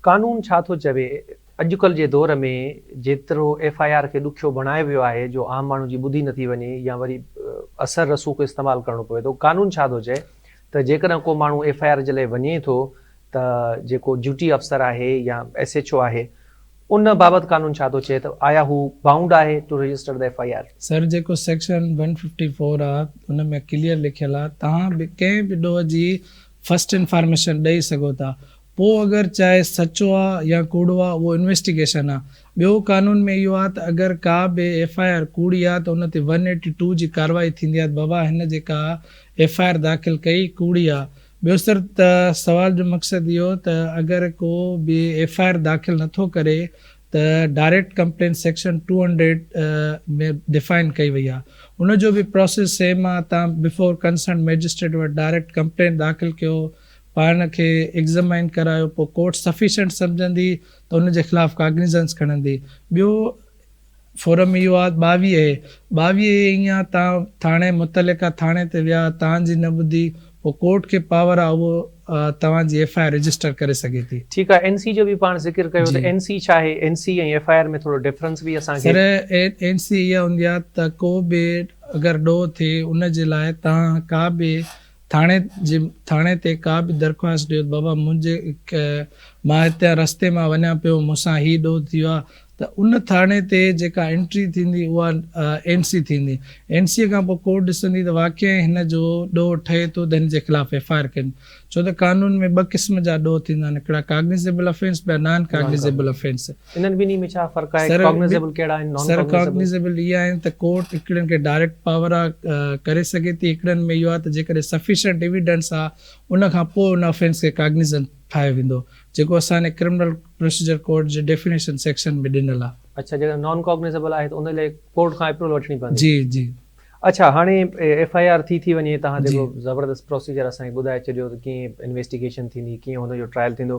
قانون ڇا ٿو چوي؟ اڄڪلهه جي دور ۾ جيترو ايف آء آر کي ڏکيو بڻايو ويو آهي جو عام ماڻهو جي ٻڌي نٿي وڃي يا وري اثر رسوخ استعمال ڪرڻو پوي ٿو. قانون ڇا ٿو چئي ته جيڪڏهن ڪو ماڻهو ايف آء آر جي لاء وڃي ٿو ته جيڪو ڊيوٽي افسر آهي يا ايس ايڇ او آهي ان بابت قانون ڇا ٿو چئي ته آيا هو بائونڊ آهي to register the F I R? Sir جيڪو سيڪشن ون ففٽي فور آ ان ۾ ڪليئر لکيل آ توهان به ڪنهن به ڏوهه جي فرسٽ انفارميشن ڏئي سگهو ٿا پوء اگر چاهي سچو آ يا ڪوڙو آ اهو انويسٽيگيشن آ. ٻيو قانون ۾ اهو آ ته اگر ڪا به ايف آء آر ڪوڙي آ ته ان تي ون ايٽي ٽو جي ڪارروائي ٿيندي آ ته بابا هن جيڪا ايف آء آر داخل ڪئي ڪوڙي آ. ٻيو سر ته سوال جو مقصد اهو ته اگر ڪو به ايف آء آر داخل نه ٿو ڪري ته direct complaint section two hundred ۾ define ڪئي وئي آ ان جو به پراسيس سيم آ تان بفور ڪنسرنڊ مئجسٽريٽ وٽ ڊائريڪٽ ڪمپلين داخل ڪيو پاڻ کي ايگزامائن ڪرايو پوء ڪورٽ سفيشنٽ سمجهندي ته ان جي خلاف ڪاگنيزنس کڻندي ٻيو فورم اهو آ ٻاويهه اي ٻاويهه اي ائين آ تان ٿاڻي متعلقه ٿاڻي تي ويا تان جي نه ٻڌي پوء ڪورٽ کي پاور آ اهو توهان جي ايف آء آر رجسٽر ڪري سگهي ٿي. ٺيڪ آ اين سي جو به پاڻ ذڪر ڪيو ته اين سي ڇا آهي N C ۽ F I R ۾ ٿورو ڊفرنس به اسان کي. سر اين سي اها هوندي آ ته ڪو به اگر ڏوهه ٿئي ان جي لاء تان ڪا به. ٿاڻي جي ٿاڻي تي ڪا به درخواست ڏيو ته بابا منهنجي مان هتان رستي مان وڃان پيو مون سان هي ڏوهه ٿيو آهي ته ان ٿاڻي تي جيڪا انٽري ٿيندي اها اين سي ٿيندي اين سي کان پوء ڪورٽ ڏسندي ته واقعي هن جو ڏوهه ٺهي ٿو ته هن جي خلاف ايف آء آر ڪجي ڇو ته قانون ۾ ٻه قسم جا ڏوهه ٿيندا آهن هڪڙا ڪاگنيزيبل افينس ٻيا نان ڪاگنيزيبل افينس. انهن ٻنهي ۾ ڇا فرق آهي؟ ڪاگنيزيبل ڪهڙا آهن؟ نان ڪاگنيزيبل؟ سر ڪاگنيزيبل اهي آهن ته ڪورٽ هڪڙين کي ڊائريڪٽ پاور آ ڪري سگهي ٿي، هڪڙين ۾ اهو آ ته جيڪڏهن سفيشنٽ ايويڊنس آ ان کان پوء ان افينس کي ڪاگنيزنٽ ٺاهيو ويندو، جيڪو اسان جي ڪرمنل پروسيجر ڪوڊ جي ڊيفينيشن سيڪشن ۾ ڏنل آ. اڇا جيڪڏهن نان ڪاگنيزيبل آهي ته ان لاء ڪورٽ کان اپروول وٺڻي پوندي؟ جي جي. اڇا هاڻي ايف آء آر ٿي ٿي وڃي توهان جيڪو زبردست پروسيجر اسان کي ٻڌائي ڇڏيو ته ڪيئن انويسٽيگيشن ٿيندي ڪيئن هن جو ٽرائل ٿيندو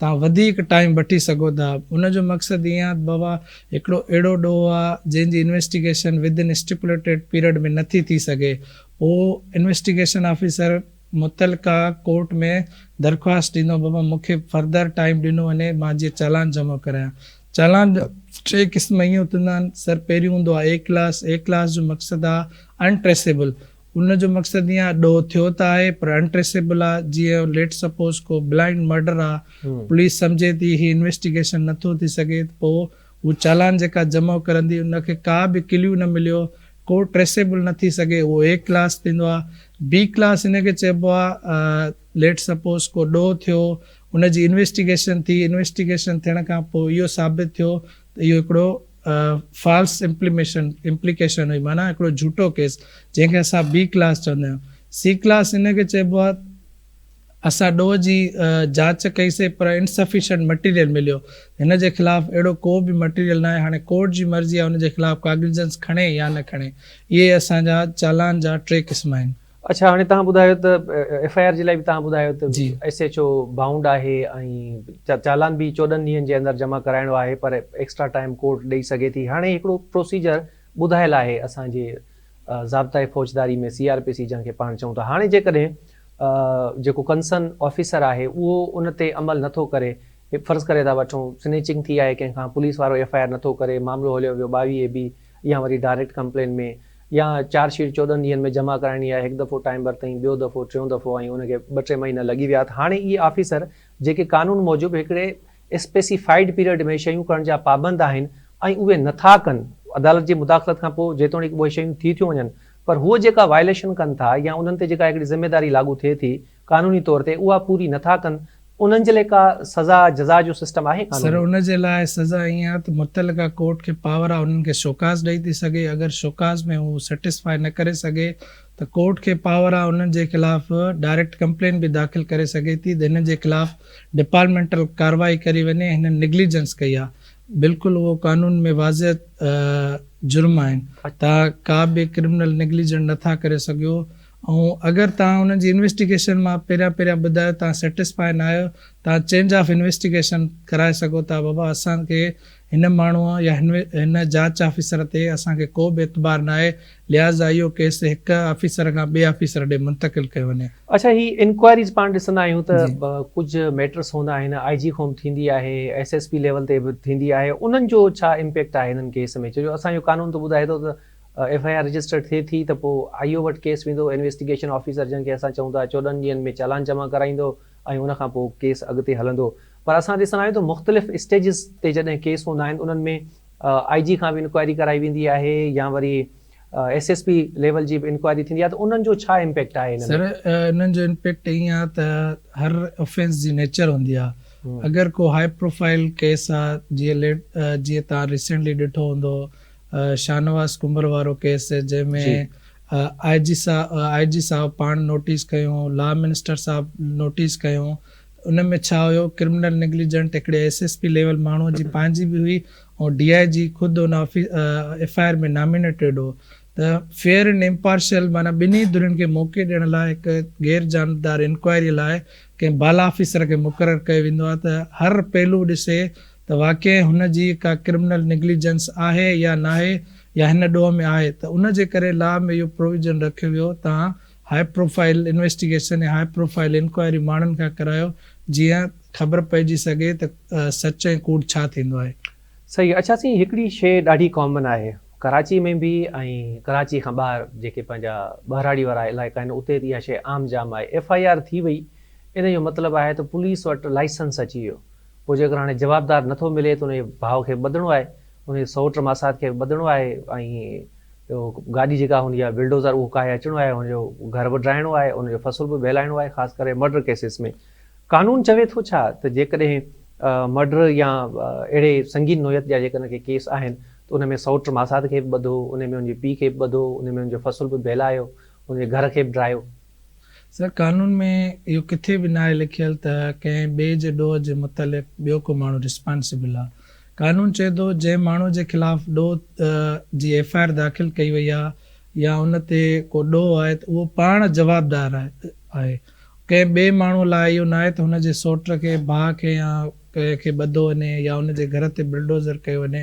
توهان وڌيڪ ٽائيم وٺي سگهو ٿا. ان جو مقصد ايئن آهي ته بابا هڪڙو اهڙو ڏوهه آهي جنهن جي investigation within stipulated period ۾ نٿي ٿي سگهي. پوء انويسٽيگيشن آفيسر متعلقه ڪورٽ ۾ درخواست ڏيندو بابا مون کي فردر ٽائيم ڏنو وڃي مان جيئن چالان جمع ڪرايان. چالان جا ٽي قسم ايئن ٿيندا آهن. سر پهريون هوندو آهي اي ڪلاس، اي ڪلاس جو مقصد آهي ان ٽريسيبل ان جو مقصد ايئن آهي ڏوهه ٿيو ته آهي پر انٽريسيبل آ جيئن ليٽس سپوز ڪو بلائنڊ مئرڊر آ پوليس سمجهي ٿي هي انويسٽيگيشن نه ٿو ٿي سگهي ته پوء هو چالان جيڪا جمع ڪرندي ان کي ڪا به ڪليو نه مليو ڪو ٽريسيبل نه ٿي سگهي اهو اي ڪلاس ٿيندو آ بي ڪلاس ان کي چئبو آ ليٽس سپوز ڪو ڏوهه ٿيو ان جي انويسٽيگيشن ٿي انويسٽيگيشن ٿيڻ کان پوء اهو ثابت ٿيو ته اهو هڪڙو فالس امپليميشن، Implication، هئي، معنيٰ هڪڙو جهوٽو ڪيس، جنهن کي اسان بي ڪلاس چوندا آهيون. سي ڪلاس ان کي چئبو آهي. اسان ڏوهه جي جاچ ڪئي سي پر Insufficient Material مليو. هن جي خلاف اهڙو ڪو به مٽيريل ناهي. هاڻي ڪورٽ جي مرضي آهي ان جي خلاف ڪاگنيزنس کڻي يا نه کڻي. اهي اسان جا چالان جا ٽي قسم آهن. اڇا هاڻي تهان ٻڌايو ته ايف آء آر جي لاء به تهان ٻڌايو ته ايس ايڇ او بائونڊ آهي ۽ چالان به چوڏهن ڏينهن جي اندر جمع ڪرائڻو آهي پر ايڪسٽرا ٽائيم ڪورٽ ڏئي سگهي ٿي هاڻي هڪڙو پروسيجر ٻڌايل آهي اسان جي ضابطه فوجداري ۾ سي آر پي سي جنهن کي پاڻ چئون ٿا هاڻي جيڪڏهن جيڪو ڪنسرن آفيسر آهي اهو ان تي عمل نٿو ڪري فرض ڪري ٿا وٺون سنيچنگ ٿي آهي ڪنهن کان پوليس وارو ايف آء آر نٿو ڪري معاملو هليو ويو ٻاويهه اي بي يا وري ڊائريڪٽ ڪمپلين ۾ يا چارج شيٽ چوڏهن ڏينهن ۾ جمع ڪرائڻي آهي هڪ دفعو ٽائيم ورتائين ٻيو دفعو ٽيون دفعو ۽ ان کي ٻه ٽي مهينا لڳي ويا ته هاڻي اهي آفيسر جيڪي قانون موجب هڪڙي اسپيسيفائيڊ پيريڊ ۾ شيون ڪرڻ جا پابند آهن ۽ اهي نٿا ڪن عدالت جي مداخلت کان پوء جيتوڻيڪ اهي شيون ٿي ٿيون وڃن پر هو جيڪا وائليشن ڪن ٿا يا انهن تي جيڪا هڪڙي ذميواري لاڳو ٿئي ٿي قانوني طور تي اها پوري نه ٿا ڪن انهن جي لاء ڪا سزا جزا جو سسٽم آهي قانون سر ۾؟ ان جي لاء سزا ائين آهي ته متعلقه ڪورٽ کي پاور آهي انهن کي شوڪاز ڏئي ٿي سگهي اگر شوڪاز ۾ هو سيٽسفائي نه ڪري سگهي ته ڪورٽ کي پاور آهي انهن جي خلاف ڊائريڪٽ ڪمپلين به داخل ڪري سگهي ٿي ته هنن جي خلاف ڊپارٽمينٽل ڪارروائي ڪري وڃي هنن نيگليجنس ڪئي آهي بلڪل اهو قانون ۾ واضع جرم آهن تان ڪا به ڪرمنل نيگليجنٽ نه ٿا ڪري سگهيو ۽ اگر توهان انهن جي انويسٽيگيشن مان پهريان پهريان ٻڌايو توهان سيٽسفائي نه آهيو توهان چينج آف انويسٽيگيشن ڪرائي سگهو ٿا بابا اسان کي هن ماڻهو يا هن جاچ آفيسر تي اسان کي ڪو به اعتبار نه آهي لهٰذا اهو ڪيس هڪ آفيسر کان ٻئي آفيسر ڏي منتقل ڪيو وڃي. اڇا هي انڪوائريز پاڻ ڏسندا آهيون ته ڪجهه ميٽرس هوندا آهن آء جي کان به ٿيندي آهي ايس ايس پي ليول تي به ٿيندي آهي انهن جو ڇا امپيڪٽ آهي هنن ڪيس ۾ ڇو جو اسان جو قانون ته ٻڌائي ٿو ته ايف آء آر رجسٽرڊ ٿئي ٿي ته پوء آء او وٽ ڪيس ويندو، انويسٽيگيشن آفيسر جنهن کي اسان چئون ٿا چوڏهن ڏينهن ۾ چالان جمع ڪرائيندو ۽ ان کان پوء ڪيس اڳتي هلندو پر اسان ڏسندا آهيون ته مختلف اسٽيجز تي جڏهن ڪيس هوندا آهن انهن ۾ آء جي کان به انڪوائري ڪرائي ويندي آهي يا وري ايس ايس پي ليول جي به انڪوائري ٿيندي آهي ته انهن جو ڇا امپيڪٽ آهي ان ۾؟ سر انهن جو امپيڪٽ ائين آهي ته هر افينس جي نيچر هوندي آهي اگر ڪو هاء پروفائل ڪيس آهي جيئن جيئن توهان ريسينٽلي ڏٺو هوندو شاهنواز ڪنڀر وارو ڪيس جنهن ۾ آء جي آء جي صاحب پاڻ نوٽيس ڪيو، لا منسٽر صاحب نوٽيس ڪيو ته ان ۾ ڇا هيو، ڪرمنل نيگليجنٽ هڪڙي ايس ايس پي ليول ماڻهو جي پنهنجي به هئي ۽ ڊي آء جي خود ان ايف آء آر ۾ نامينيٽيڊ هو ته فيئر اينڊ امپارشل معنيٰ ٻنهي ڌرين کي موقعي ڏيڻ لاء هڪ غير جانبدار انڪوائري لاء ڪنهن بالا آفيسر کي مقرر ڪيو ويندو آهي ته هر پهلو ڏسي ته واقعي هن جي ڪا ڪرمنل نگليجنس آهي يا ناهي يا هن ڏوهه ۾ آهي ته ان جي ڪري لا ۾ اهو پروويزن رکيو ويو تان هاء پروفائيل انويسٽيگيشن يا هاء پروفائيل انڪوائري ماڻهن کان ڪرايو جيئن خبر پئجي سگهي ته سچ ۽ ڪوڙ ڇا ٿيندو آهي. صحيح اڇا سائين هڪڙي شي ڏاڍي ڪامن آهي ڪراچي ۾ به ۽ ڪراچي کان ٻاهر جيڪي پنهنجا ٻهراڙي وارا علائقا آهن اتي اها شي عام جام آهي ايف آء آر ٿي وئي ان جو مطلب آهي ته پوليس وٽ لائسنس اچي ويو پوء جيڪر هاڻي جوابدار نٿو ملي ته انهيء ڀاء کي ٻڌڻو آهي، انهيء سئوٽ ماسات کي به ٻڌڻو آهي ۽ گاڏي جيڪا هوندي آهي بلڊوزر اهو ڪاهي اچڻو آهي، هن جو گهر به ڊاهڻو آهي، هن جو فصل به بهلائڻو آهي، خاص ڪري مرڊر ڪيسز ۾. قانون چوي ٿو ڇا ته جيڪڏهن مرڊر يا اهڙي سنگين نوعيت جا جيڪڏهن ڪي ڪيس آهن ته ان ۾ سئوٽ ماسات کي به ٻڌو، انهيء ۾ هن جي پيء کي به ٻڌو، انهيء ۾ هن جو فصل به بهلايو، هن جي گهر کي به ڊاهيو. سر قانون ۾ اهو ڪٿي به ناهي لکيل ته ڪنهن ٻئي جي ڏوهه جي متعلق ٻيو ڪو ماڻهو رسپانسيبل آ. قانون چئي ٿو جنهن ماڻهو جي خلاف ڏوهه جي ايف آء آر داخل ڪئي وئي آ يا ان تي ڪو ڏوهه آهي ته اهو پاڻ جوابدار آهي. ڪنهن ٻئي ماڻهو لاء اهو ناهي ته هن جي سوٽ کي، ڀاء کي يا ڪنهن کي ٻڌو وڃي يا ان جي گهر تي بلڊوزر ڪيو وڃي.